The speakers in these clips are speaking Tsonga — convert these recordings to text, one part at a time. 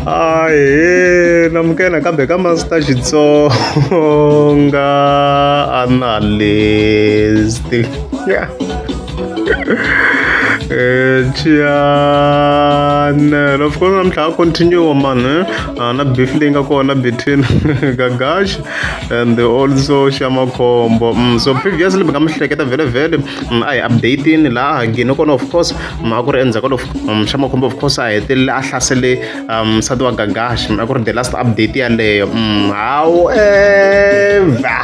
ahe na mukena kambe ka masita xitsonga analysti yeah. chiyane eh, of course namuntlha a continue mani eh? ah, na beef leyi nga kona between gagash and also xamakhombo mm, so previously mi nga mi hleketa vhele vhele mm, a hi updatini laha gini kona of course a ku ri endzhaku ka um, xa makhombo of course a hetelele a hlasele um, nsati wa gagashi a ku ri the last update yaleyo mm, however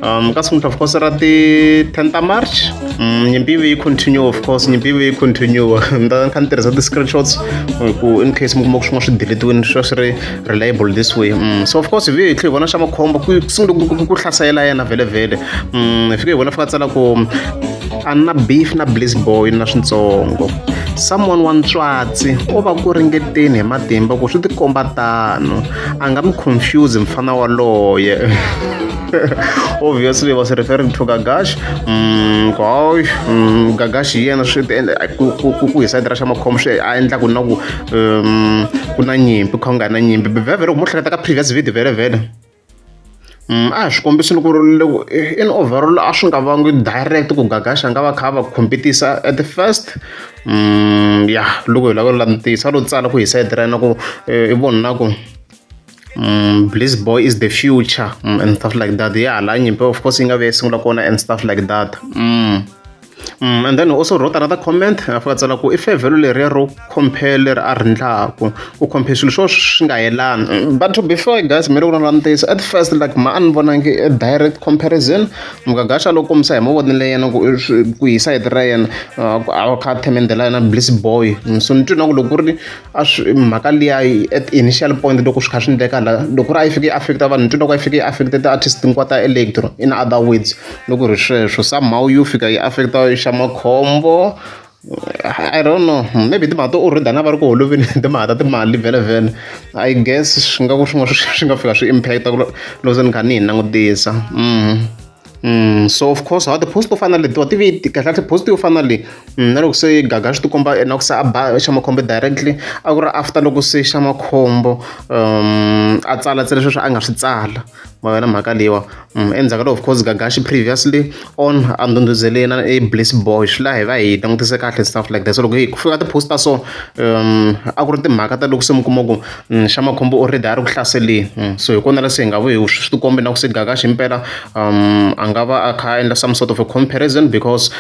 um, ka siku of course ra ti-ten ta march mm, nyimpi yive yi continue of course nyimpi yive yi continue ni ta kha ni tirhisa ti-screenshots ku in case mi kuma ku swin'wana swi deletiwini swi swi ri reliable this way mm, so of course hi vi hi tlhe hi vona xa makhombo ku sungule ku hlasela yena vhele vhele hi fike hi vona fika tsala ku a na beef na bliss boy na swintsongo someone wa ntswatsi o va ku ringeteni hi matimba ku swi tikomba tano a nga mi confuse mfana waloye obviously was referring to gagash mm, goy mm, gagash hi yena swi ku hi sayiti ra xa makhomo swi a endla ku na ku um, ku na nyimpi kha u nga na nyimpi vhevhele ku mo hleketa ka previous video vhele vhele A hi swi kombisa ni ku ri loko in overall a swi nga vangi direct ku Gagaxa a nga va kha a va compete-isa at the first ya loko hi lava ku langutisa a lo tsala ku hi side ra yena ku i vo ni na ku Blizz Boy is the future and stuff like that ya hala nyimpi of course yi nga vi ya sungula kona and stuff like that . Mm, and then also wrote another comment a fika tsala ku i fevhelo leriya ro compare leri a rindlaku u compare swilo swo swi nga yelani mm, but to be fair guys mi ri ku na ntiyiso at first like ma a ni vonangi a direct comparison mugagasha loko misa hi mavonelo yena ku ku hi side ra yena a kha a themendela yena bliss boy mm, so ni twi na ku loko ku ri a swi mhaka liya at initial point loko swi kha swi endleka la loko ri a yi fike yi affecta vanhu nto loko a yi fike yi affecta ti-artist hinkwawu ta electro in other words loko ri sweswo somehow yo fika yi affecta yi xa makhombo I don't know maybe timhaka to already na va ri ku holoveni timhaka ta timali vhele vhele I guess swi nga ku swin'wana swi nga fika swi impact-a loko se ni kha ni yi langutisa. so of course hala ti-post to fana na letiwa ti ve ti kahlekahle post yo fana na leyi na loko se gaga swi tikomba na ku se a ba xa makhombo directly a ku ri after loko se xa makhombo a tsala ntsena sweswo a nga swi tsala ma vona mhaka leyiwa endzhaku ka loko of course gaga xi previously on a ndhundhuzeleni a i bliss boy swi la hi va hi langutise kahle stuff like that so loko hi ku fika ka ti-post ta so a ku ri timhaka ta loko se mi kuma ku. xa makhombo u ri a ri ku hlaseleni so hi kona la se hi nga vuye hi swi ti kombe na ku se gaka ximpela a nga va a kha a endla some sort of a comparison because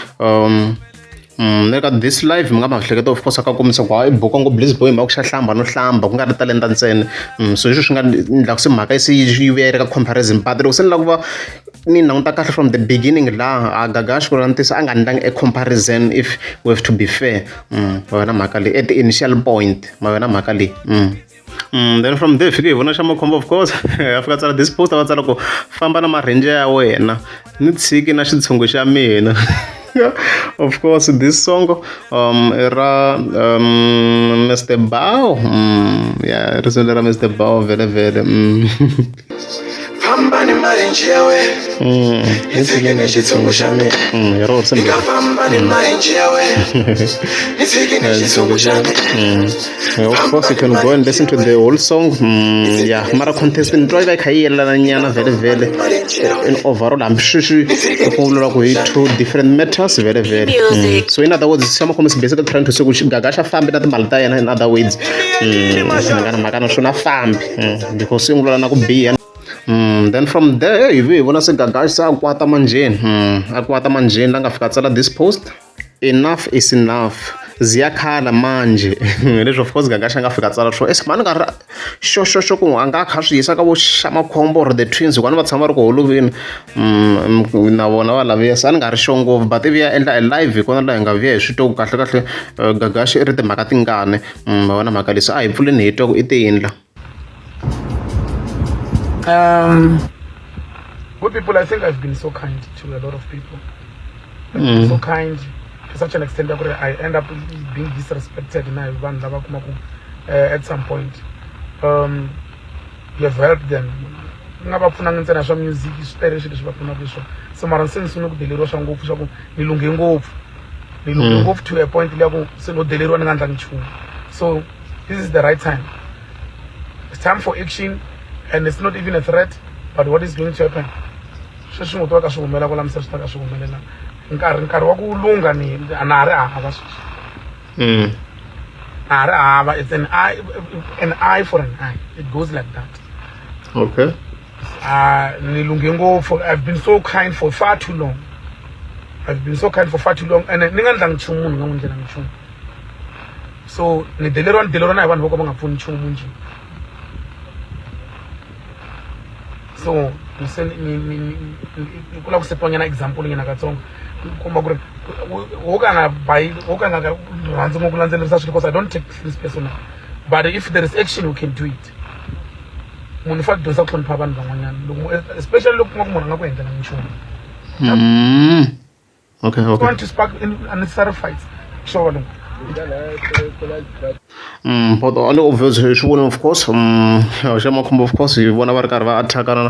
ni ri ka this life mi nga ma hleketa of course a ka kombisa ku ha i buka ngo bliz boy hi mhaka ku xa hlamba no hlamba ku nga ri talenta ntsena so hi sweswo swi nga endlaka se mhaka yi se yi vuya yi ri ka comparison but loko se ni lava ku va ni languta kahle from the beginning laha a gaga a xi ku langutisa a nga endlangi a comparison if we have to be fair ma ve na mhaka leyi at the initial point ma ve na mhaka leyi then from there fike hi vona xa makhombo of course a fika a tsala this post a va tsala ku famba na marhenje ya wena ni tshiki na xitshungu xa mina of course this song um ra um Mr Bao mm, yeah risimu lera Mr Bao vele vele mm. famba ni marenji ya wena Mm, ni fike ni xitshungu xa mina mm, ya rorisa ni ni nga nga- famba ni marenji ya wena ni fike ni xitshungu xa mina Mm. Eh, Of course you can go and listen to the whole song. Mm, yeah, mara contest ni twa like hayi yelana nyana vele vele. marenji ya In overall hambi sweswi ku pfungulula ku hi two different matters vele vele. Mm. So in other words, Siyama Khomas is basically trying to say ku gaga xa fambi na timali ta yena in other words. Mm, ngana makana swona fambi. mm, ndzi ko sungula na ku biha Mm, then from there hi vuye hi vona se gagaxi se a kwata manjheni mm, a kwata manjheni la nga fika tsala this post enough is enough ziyakhala manje leswi of course gagaxi a nga fika tsala swo es mani nga ri xo xo xo ku a nga kha swi yisa ka vo xamakhombo or the twins hikuva ni va tshama va ri ku holovini mm, na vona va laviya se a ni nga ri xo ngopfu but ivi ya endla e live hi kona laha hi nga vuya hi swi twa ku kahle kahle eh, gagaxi i ri timhaka tingani ma vona mhaka leswi a hi pfuleni hi twa ku i te yini la um good people i think i've been so kind to a lot of people mm. so kind to such an extent that i end up being disrespected na hi vanhu lava kumaku uh, at some point um they've helped them ni nga va pfunanga ntsena swa music swi tele swilo leswi va pfunaka hi swona se mara se ni sungule ku deleriwa swa ngopfu swa ku ni lunghe ngopfu ni lunghe mm. ngopfu to a point leya ku se no deleriwa ni nga ndlangi nchumu so this is the right time it's time for action and it's not even a threat but what is going to happen sweswi ngo tiva ka swi humelela ku lamisa swi ta ka swi humelela nkarhi nkarhi wa ku lungha ni a na ha ri hava sweswi Mm. Ah, but it's an eye, an eye for an eye. It goes like that. Okay. Ah, for I've been so kind for far too long. I've been so kind for far too long and ni nga ndla nchumu ni nga n'wi ndlela nchumu so ni deleriwa ni deleriwa na hi vanhu vo ka va nga pfuni nchumu njhe so ni kula ku setwanyana example nyana katsongo komba ku ri wo ka nga bayi wo ka nga rhandzi ngo ku landzelerisa swilo because i don't take this personal but if there is action you can do it munhu fa dyondza ku hlonipha vanhu van'wanyana loko especially loko kuma ku munhu a nga ku endlela nchumu mm. Okay, okay. want to spark unnecessary fights. Sure. Mm, but the only obvious swi vona of course um xa makhombo of course hi vona va ri karhi va attackana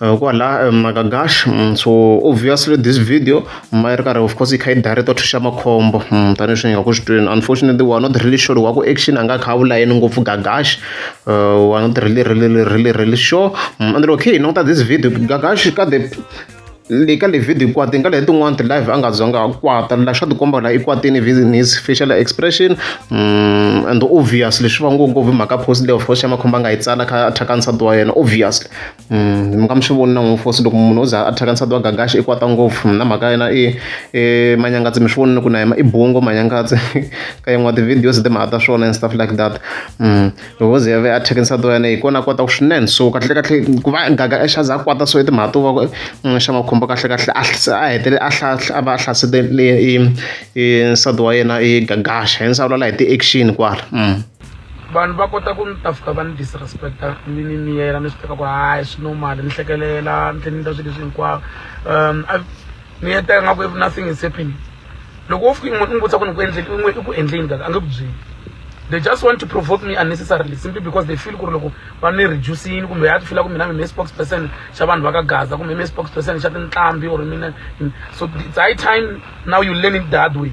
uh, kwala um, makagash um, so obviously this video ma yi ri karhi of course yi kha yi director to xa makhombo um, tanihi swi nga ku swi twini unfortunately wa not really sure wa ku action a nga kha a vula yini ngopfu gagash uh, wa not really really really really sure um, and okay note this video gagash ka the le ka livhidiyo kwati nga lehe tin'wana ti-live a nga zanga a kwata la xa tikomba la i kwatini in his facial expression um and obviously swi va ngopfu mhaka post leyo fosi xa makhomba a nga yi tsala kha a thyaka nsati wa yena obviously um mm, mi nga mi swi voni na n'wi fosi loko munhu o za a thyaka nsati wa gagaxi i kwata ngopfu na mhaka yena i i manyangatsi mi swi vonile ku na yena i bungo manyangatsi ka yin'wana ti-videos timhaka ta swona and stuff like that um loko ze yave a thekenisa to yane hi kona a kota ku swinene so kahlekahle ku va gaga exaza a kwata so i timhaka to va mm, xa makhombo kahlekahle a hetele a a va a hlasete nsati wa yena i gagaxa hi nsawula la hi ti-action kwala mm. vanhu va kota ku ni tafuta va ni disrespecta ni ni miyela ni swi teka ku hayi swi normal ni hlekelela ni tlhe ni ta swilo leswi hinkwavo um ni heta ingaku if nothing is happening loko wo fika i n'wi vutisa ku ni ku endleni i n'wi i ku endleni kaka a nge ku byeli they just want to provoke me unnecessarily simply because they feel ku ri loko va ni reducini kumbe ya ti fila ku mina mi me spokes person xa vanhu va ka gaza kumbe me spokes person xa tinqambi or mina so it's high time now you learn it that way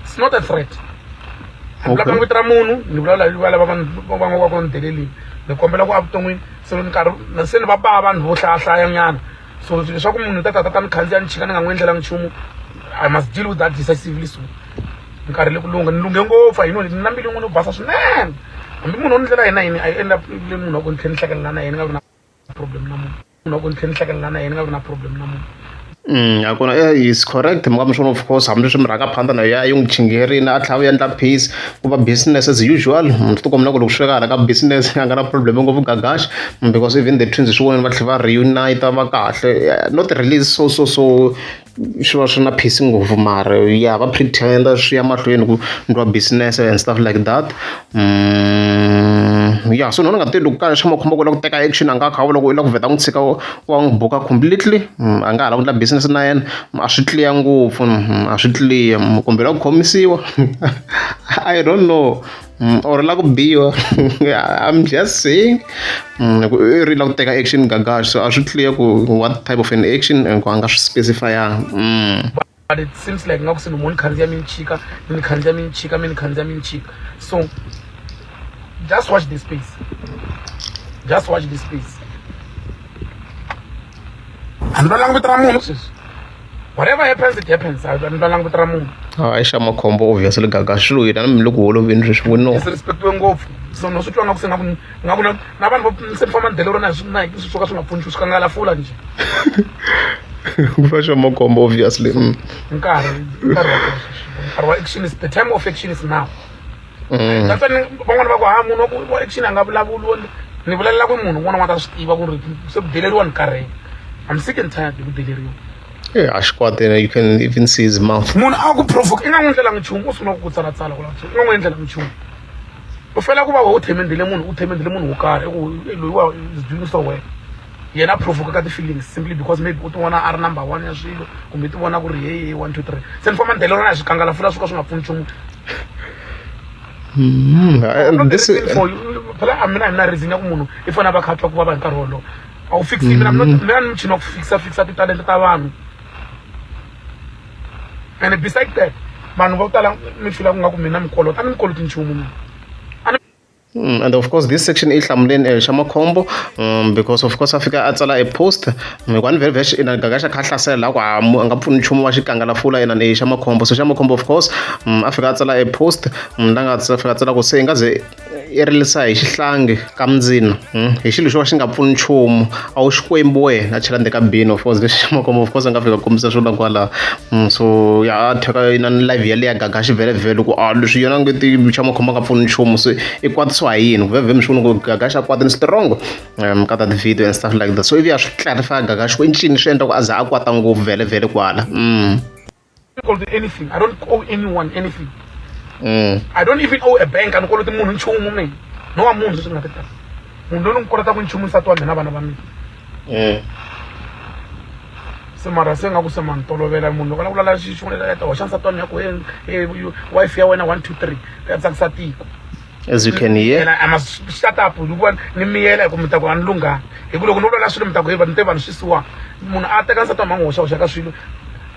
it's not a threat vulaka ni vito ra munhu ni vulavula hi valava va n'wi va ku ni delelini ni kombela ku a vuton'wini se ni karhi se ni va ba vanhu vo hlayahlaya nyana so leswaku munhu ta tata ta ni khandziya ni chika ni nga n'wi endlelanga nchumu i must deal with that decisively so nkarhi le ku lungha ni lunghe ngopfu a yino ni na mbilu yin'wana yo basa swinene hambi munhu o ni ndlela yena yini a yi endla le munhu wa ku ni tlhe ni hlekelela na yena ni nga vi na problem na munhu munhu wa ku ni tlhe ni hlekelela na yena ni nga vi na problem na munhu Mm, a kona eh, is correct mukami swona of course hambileswi mi rhanga phanda na ya yi n'wi chingerini a tlhava ya endla peace ku va business as usual munhu ti kombela ku loko swi fika hala ka business a nga na problem ngopfu gagash because even the twins swi voneni va tlhela va reunite va kahle not release so so so swi va swi na peace ngopfu mara ya va pretender swi ya mahlweni ku ndliwa business and stuff like that mm ya so ni vona nga ti loko ka xa makhombo ku la ku teka action a nga kha loko u la ku vheta n'wi tshika wa n'wi buka completely a nga ha la ku endla business na yena a swi clear ngopfu a swi clear kumbe la ku khomisiwa i don't know or la ku biwa i'm just saying ku i ri la ku teka action gagax so a swi clear ku what type of an action and ku a nga swi specify-anga. but it seems like ngaku se nomoni khanzi ya mini chika mini khanzi ya mini chika mini khanzi ya mini chika so just watch the space just watch the space a ni va langutela munhu sweswi whatever happens it happens a ni va langutela munhu a i xa makhombo obviously gaga swi lo yena na mi le ku holoveni sweswi we no se respectiwe ngopfu so no swi twa ngaku se ngaku nga vula na vanhu vo se ni famba ni delero na na hi swo ka swi nga pfuni swi kangala fula njhe ku fa swa makombo obviously mm. nkarhi nkarhi wa nkarhi wa action is the time of action is now mm. that's why van'wana va ku ha munhu wa ku action a nga vulavuli ni vulalela ku munhu un'wana n'wana ta swi tiva ku ri se ku deleriwa ni karhele i'm sick and tired hi ku deleriwa Eh, a xi kwate you can even see his mouth munhu a ku provoke i nga n'wi endlelanga nchumu u sungula ku ku tsalatsala ku lava u nga n'wi endlelanga nchumu u fela ku va wena u themendile munhu u themendile munhu wo karhi i ku loyiwa is doing so well yena provoke ka ti-feelings simply because maybe u ti vona a ri number one ya swilo kumbe ti vona ku ri hehe one two three se ni famba ni delelana hi swikangalafula swo ka swi nga pfuni nchumu hmm, phela a mina a ni na reason ya ku munhu i fanele a va kha twa ku vava hi nkarhi wolowo a wu fixi mina mina ni muchini wa ku fixa fixa titalenta ta vanhu and beside that vanhu vo tala mi fila ku nga ku mina mi kolota a ni mi koloti nchumu mina Mm, and of course this section is hlamuleni eh, xa makhombo um, because of course a fika a tsala a post hikuva ni velvesh ina gaga xa kha hlasela laha ku a mu- a nga pfuni nchumu wa xikangalafula ina ni xa makhombo so xa makhombo of course um, a fika a tsala a post um, la nga tsa- fika a tsala ku se i nga ze yi rilisa hi xihlangi ka mindzina hmm? hi xilo xo ka xi nga pfuni nchumu a wu xikwembu wena a chela ndzeni ka bini of course lexi xa makombo of course a nga fika kombisa swilo kwalaho hmm, so ya a theka na ni live yaleyo ya gaga xivelevhele ku a ah, leswi yona nge ti xa makhombo nga pfuni nchumu se i kwatisiwa hi yini kuvhevhe mi swi vona ku gaga xa kwata ni strongo um ka ta ti-video and stuff like that so ivi ya swi clarify gaga xi ku i ncini swi endla ku a za a kwata ngopfu vhelevhele kwala mm. koloti anything i don't owe anyone anything mm. i don't even owe a bank anikoloti munhu nchumu mina no wa munhu leswi nga ta tala munhu loyi ni n'wi kolotaka nchumu nsati wa mina vana va mina mm. se mara se nga ku se ma ni tolovela munhu loko a lava ku lala xixun'wana ya ta hoxa nsati wa mina ku wife ya wena one two three ya tsakisa tiko as you can hear and I, I must shut up ni vona ni miyela hi ku mi ta ku a ni lunghanga hi ku loko ni vulavula swilo mi ta ku heva ni te vanhu swi siwaka munhu a teka nsati wa mhangu hoxahoxa ka swilo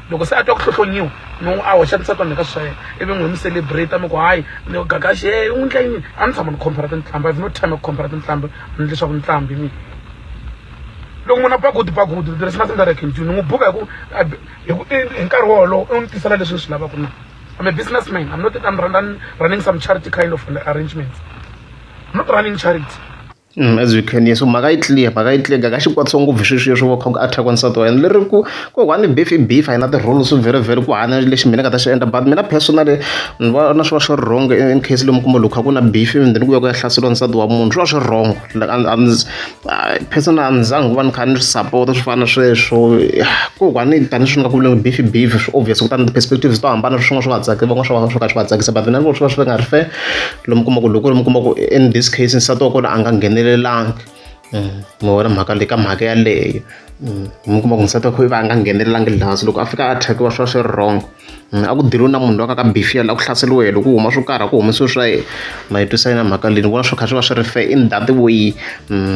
loko se a twa ku hlohlonyiwa no a hoxa nsati wa mina ka swi swa yena ivi n'wi mi celebrate mi ku hayi ni gagaxi e u ndla yini a ni tshama ni compara tintlamba ivi no time ya ku compara tintlamba ni leswaku ni tlambi mina loko munhu a pakuti pakuti there is nothing that i can do ni n'wi buka hi ku hi nkarhi wolowo u ni tisela leswi ni swi lavaka na I'm a businessman. I'm not that I'm running, running some charity kind of arrangements. I'm not running charity. Mm, as we can hear so mhaka yi clear mhaka yi clear ka xikwatisa ngopfu sweswiya swo va kha ku attack wansati wa yena leri ku ku one beef i beef a yi na ti-rules very very ku hanya lexi mina ka ta xi endla but mina personally ni va na swi va swi ri wrong in case lomu kuma loko kha ku na beef and then ku ya ku ya hlaseriwa nsati wa munhu swi va swi ri wrong Hayi personal a ni za ngi va ni kha ni swi sapota swo fana na sweswo ko va ni tanihi swi nga ku vuriwa beef beef swi obvious kutani ti-perspectives to hambana swin'wana swi nga tsaki van'wana swi va swo ka swi nga tsakisa but mina ni vona swi va swi nga ri fair lomu u kuma ku loko ku ri mi kuma ku in this case nsati wa kona a nga nghenelelanga mi vona mhaka leyi ka mhaka yaleyo mi kuma ku nsati wa kha i va a nga nghenelelanga laha se loko a fika a attackiwa swi va swi ri wrong. a ku deliwe na munhu loyi a nga ka Befiela la ku hlaseriwe yena loko u huma swo karhi a ku humesiwe swa yena ma yi twisa yini mhaka leyi ni vona swi kha swi va swi ri fair in that way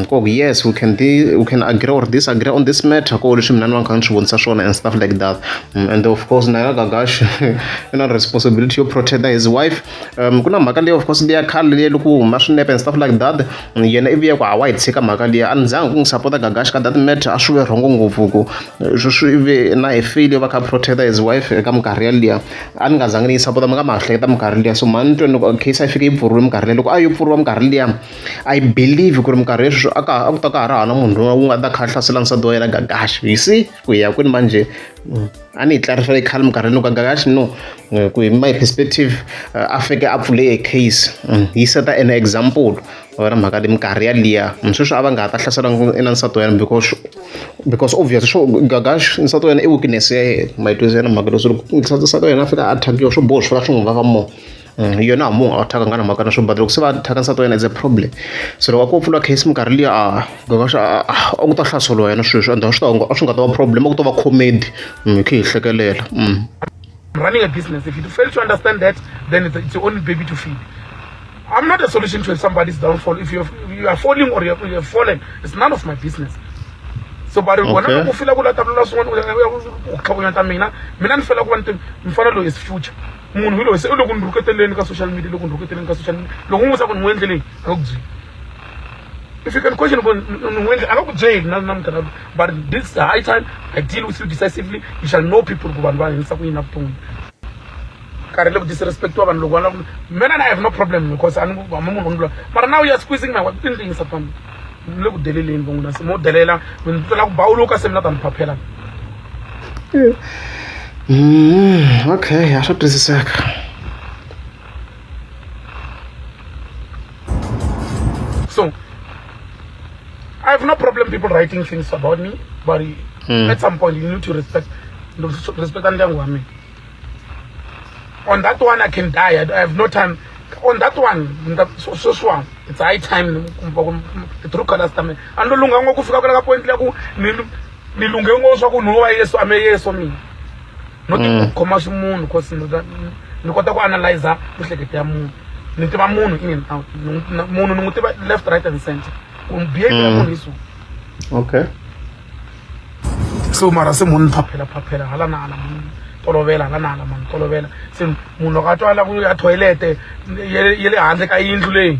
ku yes we can be we can agree or disagree on this matter ko leswi mina ni va ni kha ni swi vonisa swona and stuff like that and of course na ya Gagash i na responsibility yo protect his wife. um ku na mhaka leyi of course liya khale leyi loko huma swinepe and stuff like that yena ivi ya ku hawa yi tshika mhaka liya a ni zanga ku n'wi sapota gagaxi ka that matter a swi ve rhongo ngopfu ku swi ve na hi file va kha protecta his wife eka minkarhi yaliya a ni nga zangi ni yi sapota mi nga ma hleketa minkarhi liya so mhani tweni loko case a yi fike yi pfuriwe minkarhi liya loko a yo pfuriwa minkarhi liya i believe ku ri minkarhi yesweswo a ka a ku ta ka ha ri hava na munhu loyi wu nga ta kha a hlasela nsati wa yena gagaxi you see ku ya kwini manje mm, a ni yi tlarisa yi khale minkarhi loko nga kaxi no eh, ku hi my perspective eh, a fike a pfule a case mm, yi seta an example ra mhaka leyi minkarhi yaliya mm, sweswi a va nga ha ta hlasela na nsati wa yena because because obvious swo gagash nsati wa yena i weakness ya yena mayitwisi ya yena mhaka leswi loko nsati wa yena a fika a attackiwa swo boho swi fika swi n'wi vava more Mm, yona a munhu a thyaka nga na mhaka na swo but loko se va thyaka nsati wa yena is a problem so loko a ko pfula case minkarhi liya a gokaxa a ku ta hlaseliwa yena swilo swi endla swi ta a swi nga ta va problem a ku ta va comedy mm, hi khe hi hlekelela mm. running a business if you fail to understand that then it's your only baby to feed i'm not a solution to somebody's downfall if you're, you are falling or you're, you're fallen it's none of my business so bari vona okay. loko u fila ku latalula swin'wana u tlhakonyata mina mina ni fela ku va ni mfana loyi is future munhu loyi se u loko ni rhuketeleni ka social media loko ni rhuketeleni ka social media loko u n'wi vutisa ku ni n'wi endleleni a nga ku byeli if you can question ku ni n'wi endle a nga ku byeli na na munghana loyi but this high time i deal with you decisively you shall know people ku vanhu va hanyisa ku yini na vutomi karhi le ku disrespectiwa vanhu loko va lava mina and i have no problem because a ni hama munhu ni lula mara now you are squeezing my wife i ni ringisa fambi ni le ku deleleni van'wina se mo delela mi ni tlela ku bawuluka se mina ta ni phaphelana Mm, okay, a swa twisiseka. So, I have no problem people writing things about me, but mm. at some point you need to respect respect ndyangu wa mina. On that one I can die. I have no time. On that one, sweswiwa it's high time the true colors ta mina. A ni lo lungha ngopfu fika kwala ka point la ku ni lunghe ngo swa ku nhova yesu ame yesu mina no ti mm. khoma ximunhu cause ni kota ku analyza mihlekete ya munhu ni tiva munhu in and out munhu ni n'wi tiva left right and center ku behavior ya mm. munhu hi so okay so mara se munhu ni phaphela phaphela hala na hala munhu tolovela hala na hala munhu tolovela se munhu loko a twa la ku ya toilete ye le handle ka yindlu leyi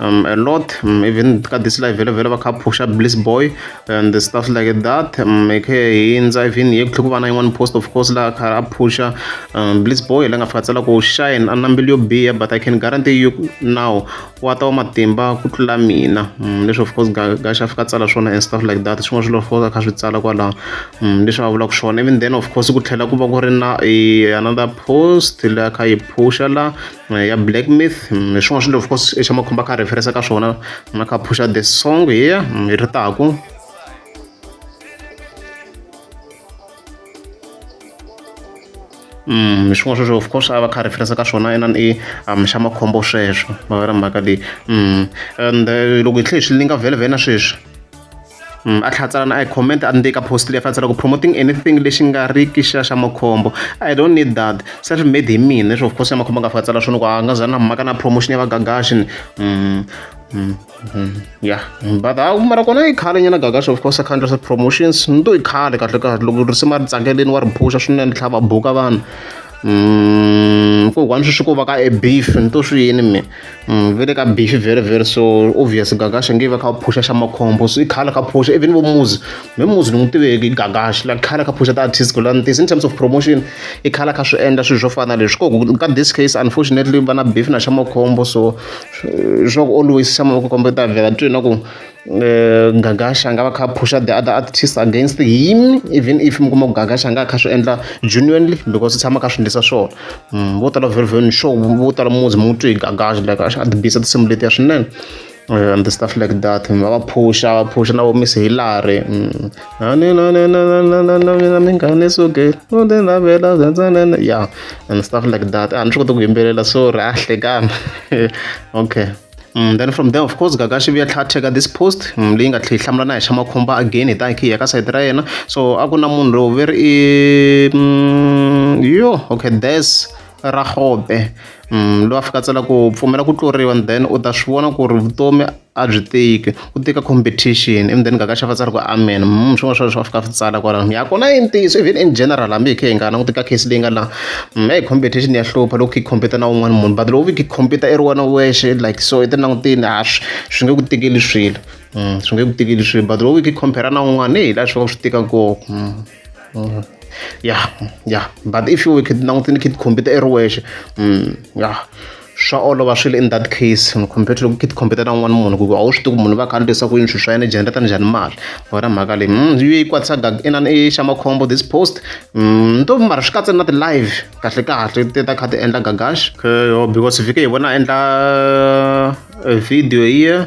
um, a lot um, even ka this live vele vele va kha phusha bliss boy and the stuff like that um, e khe hindza even ye ku tlhe ku va na yin'wana post of course laha kha a phusha um, bliss boy la nga fika tsala ku shine a na mbilu yo biha but i can guarantee you now wa ta wa matimba ku tlula mina um, leswi of course gaxa fika tsala swona and stuff like that swin'wana swilo of course a kha swi tsala kwalaho um, leswi va vulaka swona even then of course ku tlhela ku va ku ri na eh, another post la kha yi phusha laha eh, ya black myth mm, hi swin'wana swilo of course xa makhumba kha referensa ka swona na kha phusha the song here mm, hi ri taku Mm, swin'wana sweswo of course a va kha referensa ka swona inani i um xa makhombo sweswo mavera mhaka leyi mm and eh, loko hi tlhe hi swi linga vhele vhele na sweswi Mm, a tlhatsalana a hi comment a ni ka post leyi fantsela ku promoting anything lexi nga ri ki xa xa makhombo i don't need that self made hi mina leswi of course ya makhombo a nga fantsela swona ku a nga za na mhaka na promotion ya vagagashi ni mm, mm, mm, ya but a mara kona yi khale nyana gagashi of course account sa promotions ni to yi khale kahle kahle loko risima ri tsakeleni wa ri phusha swinene tlhava buka vanhu kokwana sweswi ko va ka e beef ni to swi yini mina Mm, vele ka bifi very very so obvious gagashi ngive kha phusha xa makhombo so ikhala kha phusha even vo muzi me muzi ni n'wi tiveki gagashi la khala kha phusha ti-artist ku lantis in terms of promotion i khala kha swi endla swilo swo fana leswi koku ka this case unfortunately va na bifi na xa makhombo so swa ku always xa makhombo ta vhela twi na ku eh, gagasha a nga va kha phusha the other artist against him even if mi kuma ku gagasha a nga kha swi endla genuinely because swi tshama kha swi endlisa swona mm, vo tala very very sure vo tala muzi mu twi hi gagasha like a ti bisa tinsimu letiya swinene eh, and the stuff like that va va phusha va phusha na vo miss hilary mm. mina mingane suke udenavela ya and stuff like that a ni swi koti ku yimbelela sorry a hlekana okay Mm, then from there of course gaga xi vuya tlha teka this post mm, leyi nga tlhe yi hlamula na hi xa makhomba again hi ta hi khe hi ya ka sayiti ra yena so a ku na munhu lowu veri i mm, yo okay there's ra hobe loyi a fika tsela ku pfumela ku tluriwa and then u ta swi vona ku ri vutomi a byi tiki ku teka competition endzeni ka ka xava tsari ku amen mm, swin'wana swa leswi va fika swi tsala kwalaho ya kona i ntiyiso even in general hambi hi khe hi nga languti ka case leyi nga la mm, hi competition ya hlupha loko hi compete na un'wana munhu but loko hi compete i ri wena wexe like so i ti langutini ha swi swi nge ku tikeli swilo mm, swi nge ku tikeli swilo but loko hi compare na un'wana hi laha swi va swi tika kona Mm. ya ya but if you were kid langutse ni kid computer i ri wexe mm, ya swa olova swi le in that case compared to loko kid computer na un'wana munhu ku a wu swi tivi munhu va kha ni leswaku yini swilo swa yena generata njhani mali wena mhaka leyi mm, yi yi kwatisa inani i xa makhombo this post nto mara swi katsa na ti-live kahle kahle ti ta kha ti endla gagash yo because vhike hi vona a endla eh, video yiya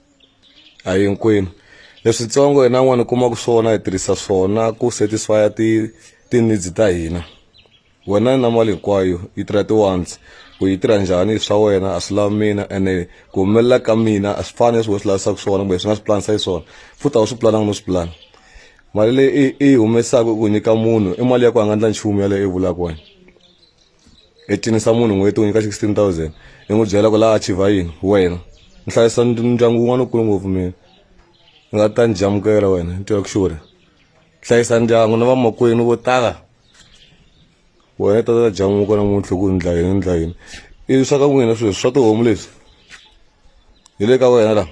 a hinkwenu leswitsongo hina n'wana kuma ku swona hi tirhisa swona ku satisfya ti ti-needs ta hina wena na mali hinkwayo yi tirha ti-once ku yi tirha njhani swa wena a swi lavi mina ene ku humelela ka mina a swi fani leswi wena swi lavisaka swona kumbe swi nga swi pulanisa xiswona futhi a wu swi pulananga no swi pulana mali leyi i yi humesaka ku nyika munhu i mali ya ku a nga ndla nchumu yaleyo i vulaka wena i cinisa munhu n'hweti u nyika 16000 i n'wi byela ku laha achiva yini wena ni hlayisa ndyangu wun'wana wukulu ngopfu mina ni nga ta ni jamukela wena ni tiva ku xure hlayisa ndyangu na vamakwenu vo tala wena i ta ta jamuka namuntlha ku ni ndla yini ni ndla yini i swa ka n'wina sweswi swa tihomu leswi hi le ka wena laha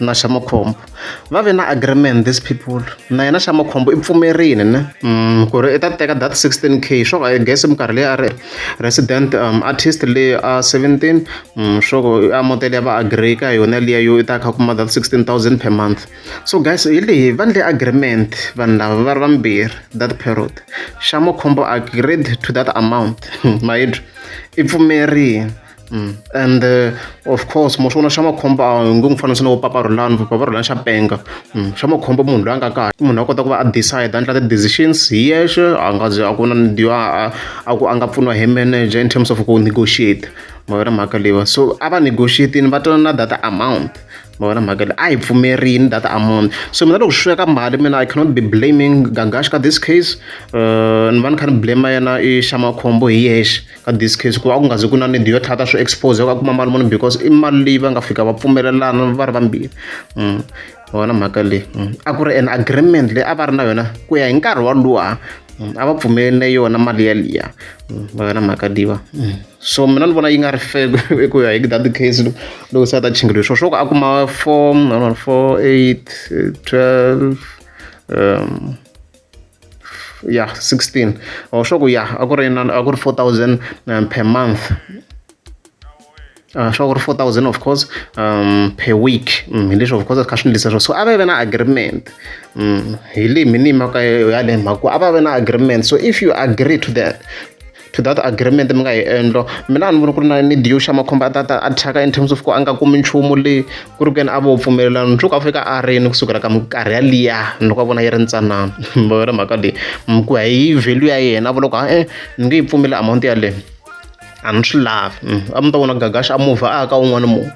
na xa makhombo va ve na agreement this people na yena xa makhombo i pfumerile ne mm, ku ri i ta teka that 16 k swo ka i guess minkarhi leyi a ri resident um, artist leyi a 17 mm, swo ku a modele ya va agree ka yona liya yo i ta kha kuma that 16000 per month so guys hi leyi va ndle agreement vanhu lava va ri vambirhi that period xa makhombo agreed to that amount mayidwa i pfumerile Mm. and uh, of course mo swona xa makhombo a nge n'wi fanisa na vo papa rulani vo papa rulani xa penga mm. xa makhombo munhu loyi a nga kahle munhu a kota ku va a decide a endla ti-decisions hi yexe a nga ze a ku na ndiwa a ku a nga pfuniwa hi manager in terms of ku negotiate ma vona mhaka leyiwa so a va negotiatini va twana na data amount ma vona mhaka leyi a hi pfumerini data amount so mina loko swi sweka mali mina i cannot be blaming gagash ka this case uh, ni va ni kha ni blame yena i xa makhombo hi yexe ka this case ku va ku nga zi ku na need yo tlhata swi expose ka kuma mali munhu because i mali leyi va nga fika va pfumelelana va ri vambirhi mm. wona mhaka leyi mm. a ku ri an agreement leyi a va ri na yona ku ya hi nkarhi walowa mm. a va pfumelele yona mali yaliya va yona mhaka liva so mina ni vona yi nga ri fe ku ya hi that case loko se a ta chingeliwe swo swo ku a kuma four four eight twelve um ya 16 or sure ku ya a ku ri a ku ri 4000 um, per month uh, sure ku ri 4000 of course um, per week mm, hi leswi of course kha swi ndlisa swo so a va ve na agreement mm, hi leyi minimaka yale mhaka a va ve na agreement so if you agree to that to that agreement mi nga yi endlo mina a ni voni ku ri na ni diyo xa makhombo a tata a thyaka in terms of ku a nga kumi nchumu leyi ku ri ku yena a vo pfumelelana nsuku a fika a rini kusukela ka minkarhi yaliya loko a vona yi ri ntsanana va vona mhaka leyi ku ya hi value ya yena a vula ku ha-e ni nge yi pfumeli amount yaleyo a ni swi lavi mm, a mi ta vona gagaxa a muvha a ya ka un'wana munhu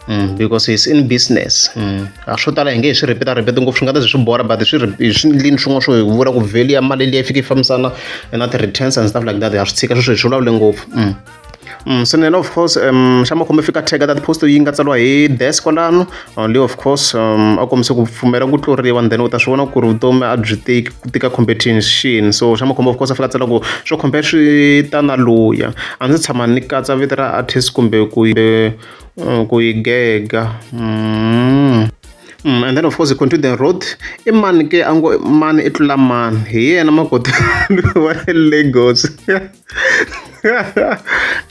Mm, because he's in business mm. a swo tala hi nge hi swi rhipeta rhipeta ngopfu swi nga ta swi bora but swi hi swi ndlini swin'wana swo hi vula ku value ya mali leyi fike yi fambisana na ti-returns and stuff like that ha swi tshika sweswo hi swi vulavule ngopfu mm. Mm, so nena of course um xa makhombo fika tag that post yi nga tsariwa hi desk kwalano uh, leyi of course um a kombise ku pfumela ku tluriwa and then u ta swi vona ku ri vutomi a byi tiki ku tika competition so xa makhombo of course a fika tsala ku swo compare swi ta na luya a ndzi tshama ni katsa vito ra artist kumbe ku Mm, ku yi gega mm. Mm, and then of course continue the road i mani ke a ngo mani i tlula mani hi yena makoti wa le lagos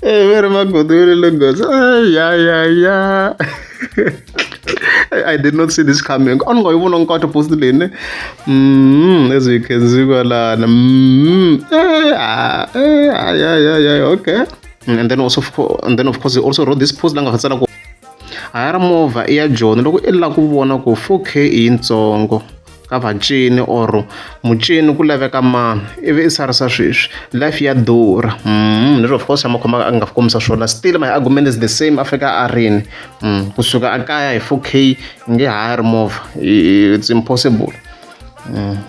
e ve ri makoti wa le lagos ya ya ya I did not see this coming. On go even on to post the ne. Mm, as you can see, well, mm, eh, ah, eh, ah, yeah, yeah, yeah, okay. mm, and then also and then of course he also wrote this post la nga ha tsala ku hayara movha i ya joni loko i lava ku vona ku 4k i yintsongo ka vacini or mucini ku laveka mani ivi i sarisa sweswi life ya durha mm, leswi of course a ma khomaka a nga fi kombisa swona still my argument is the same afrika a rini mm, kusuka a kaya hi 4 k nge ha ri movha it's impossible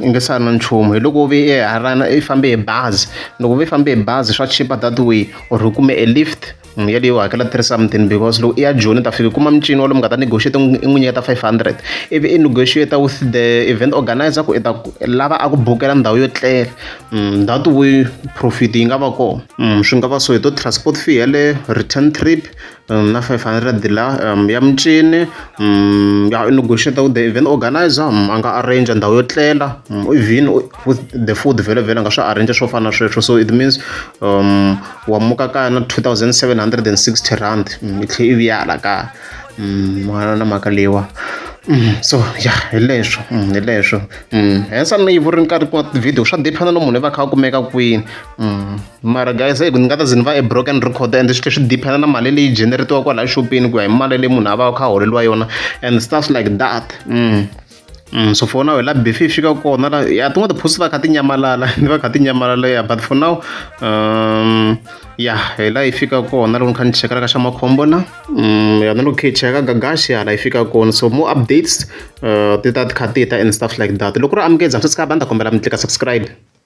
i nge sali na nchumu hi loko u ve i harana i fambe hi bazi loko u ve i fambe hi bazi swa chipa that way or u kume e lift n'wi yeleyo u hakela three something because loko i ya joni u ta fika u kuma mincini wa lomu nga ta negotiate i n'wi nyiketa five hundred ivi i negotiate with the event organiser ku i ta lava a ku bukela ndhawu yo tlela that way profit yi nga va kona swi nga va so hi to transport fee yeleyo return trip Um, na 500 la um, ya micini um, ya u negotiate with the event organizer um, a nga arrange ndhawu yo tlela um, even with the food vhele vhele nga swi arrange swo fana na sweswo so it means um, wa muka kaya na 2760 rand um, i tlhe i viyala kaya um, na na mhaka leyiwa um, so ya hi leswo um, hi leswo um, hensa ni yi vuri ni karhi ku tivhidiyo swa dependa no munhu i va kha a kumeka kwini um. mara guys eku ni nga ta ze ni va e broken record and swi tlhe swi dependa na mali leyi generatiwa kwalaya xopeni ku ya hi mali leyi munhu a va kha a holeriwa yona and stuff like that mm. Mm, so for now hi la befe yi fika kona la ya tin'wana tiphosi va kha ti nyamalala ni va kha ti nyamalala ya but for now um, ya hi la yi fika kona loko ni kha ni cheka laka xa makhombo na um, ya na loko khe yi cheka gagaxi hala yi fika kona so more updates uh, ti ta ti kha ti ta and stuff like that loko ri amukeza swi si kha banda kombela mi tlika subscribe